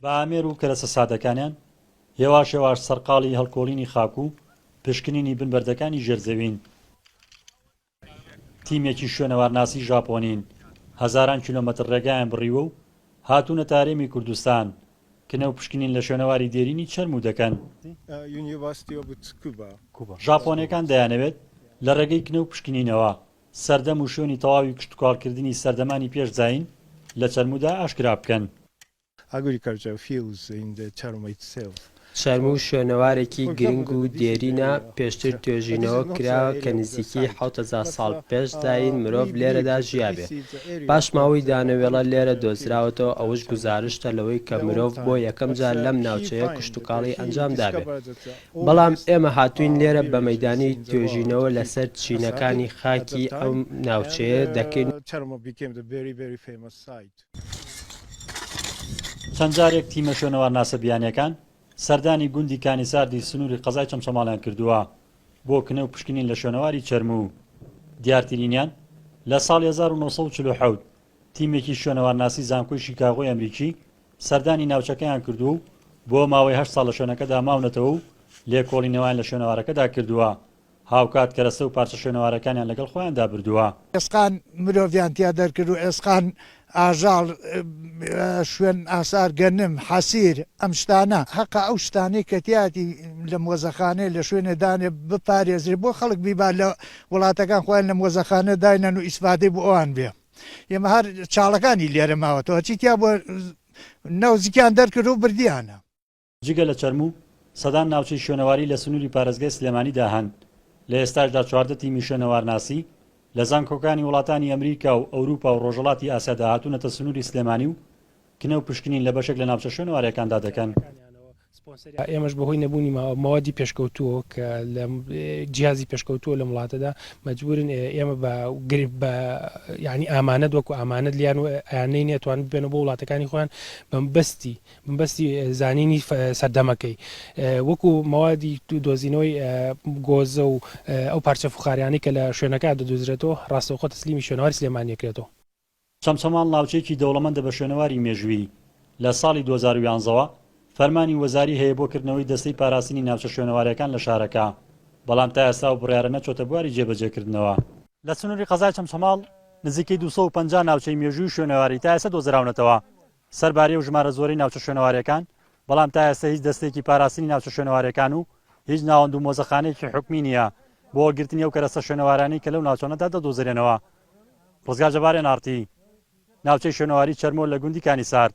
بە ئامێر و کەرەسە سادەکانیان، هێواش هێواش سەرقاڵی هەڵکۆڵینی خاک و پشکنینی بن بەردەکانی ژێر زەوین. تیمێکی شوێنەوارناسی ژاپۆنین، هەزاران کیلۆمەتر ڕێگایان بڕیوە و هاتوونەتە هەرێمی کوردستان، کنە و پشکنین لە شوێنەواری دێرینی چەرموو دەکەن. ژاپۆنەکان دەیانەوێت لە ڕێگەی کنە و پشکنینەوە، سەردەم و شوێنی تەواوی کشتوکاڵکردنی سەردەمانی پێش زایین لە چەرموودا ئاشکرا بکەن. Agriculture fields in the Termit Cell. چەرموو شوێنەوارێکی گرنگ و دێرینە، پێشتر توێژینەوە کراوە کە نزیکەی حەوت هەزار ساڵ پێش زایین مرۆڤ لێرەدا ژیابێ. پاشماوەی دانەوێڵە لێرە دۆزراوەتەوە، ئەوەش گوزارشتە لەوەی کە مرۆڤ بۆ یەکەم جار لەم ناوچەیە کشتوکاڵی ئەنجام دابێ. بەڵام ئێمە هاتووین لێرە بە مەیدانی توێژینەوە لەسەر چینەکانی خاکی ئەم ناوچەیە دەکەین و چەند جارێک تیمە شوێنەوارناسە بیانییەکان سەردانی گوندی کانیساردی سنووری قەزای چەمچەماڵیان کردووە بۆ کنە و پشکنین لە شوێنەواری چەرموو. دیارترینیان لە ساڵی هەزار و نۆ سەد و چل و حەوت تیمێکی شوێنەوارناسی زانکۆی شیکاغۆی ئەمریکی سەردانی ناوچەکەیان کردووە و بۆ ماوەی هەشت ساڵ لە شوێنەکەدا ماونەتەوە و لێکۆڵینەوەیان لە شوێنەوارەکەدا کردووە، هاوکات کەرەستە و پارچە شوێنەوارەکانیان لەگەڵ خۆیاندا بردووە. ئێسقان مرۆڤیان تیا دەرکرد و ئێسقان ئاژەڵ، شوێن ئاسار گەنم، حەسیر، ئەم شتانە. هەقە ئەو شتانەی کە تیایەتی لە مۆزەخانەیە لە شوێنێ دانێ بپارێزرێ بۆ خەڵک بیبا لە وڵاتەکان خۆیان لە مۆزەخانە داینەن و ئیسفادەی بۆ ئەوان بێ ئێمە هەر چاڵەکانی لێرە ماوەتەوە چی تیا بووە نەوزکیان دەرکرد و بردیانە. جگە لە چەرموو، سەدان ناوچەی شوێنەواری لە سنووری پارێزگای سلێمانیدا هەن، لە ئێستاشدا چواردە تیمی شوێنەوارناسی لە زانکۆکانی وڵاتانی ئەمریکا و ئەوروپا و ڕۆژهەڵاتی ئاسیادا هاتوونەتە سنووری سلێمانی و کنە و پشکنین لە بەشێک لە ناوچە شوێنەوارەکاندا دەکەن. ئێمەش بەهۆی نەبوونی مەوادی پێشکەوتووەوە کە لە جیازی پێشکەوتووە لەم وڵاتەدا مەجبورن ئێمە بە گرب بە ینی ئامانەت وەکو ئامانەت لیان و ئەیانەی نێتوان بێنە بۆ وڵاتەکانی خۆیان بەمبەستی بەستی زانینی سەردەمەکەی وەکو مەوادی دۆزینەوەی گۆزە و ئەو پارچە فخاریانی کە لە شوێنەکە دەدوزرێتەوە ڕاستەوخۆ تەسلیمی شوێنەواری سلێمانیەکرێتەوە چەمچەماڵ ناوچەیەکی دەوڵەمەندە بە شوێنەواری مێژوویی، لە ساڵی دوو هەزار و یازدە وە فەرمانی وەزاری هەیە بۆ کردنەوەی دەستەی پاراستنی ناوچە شوێنەوارەکان لە شارەکە، بەڵام تا ئێستا ئەو بڕیارە نەچۆتە بواری جێبەجێکردنەوە. لە سنووری قەزای چەمچەماڵ نزیکەی دوو سەد و پەنجا ناوچەی مێژووی و شوێنەواری تا ئێستا دۆزراونەتەوە، سەرباری ئەو ژمارە زۆرەی ناوچە شوێنەوارەکان، بەڵام تا ئێستە هیچ دەستەیەکی پاراستنی ناوچە شوێنەوارەکان و هیچ ناوەند و مۆزەخانەیەکی حکومی نییە بۆ وەرگرتنی ئەو کەرەستە شوێنەوارانەی کە لەو ناوچانەدا دەدۆزرێنەوە. ڕزگار جەبار، ئێن ئاڕ تی، ناوچەی شوێنەواری چەرمۆ لە گوندی کانی سارد.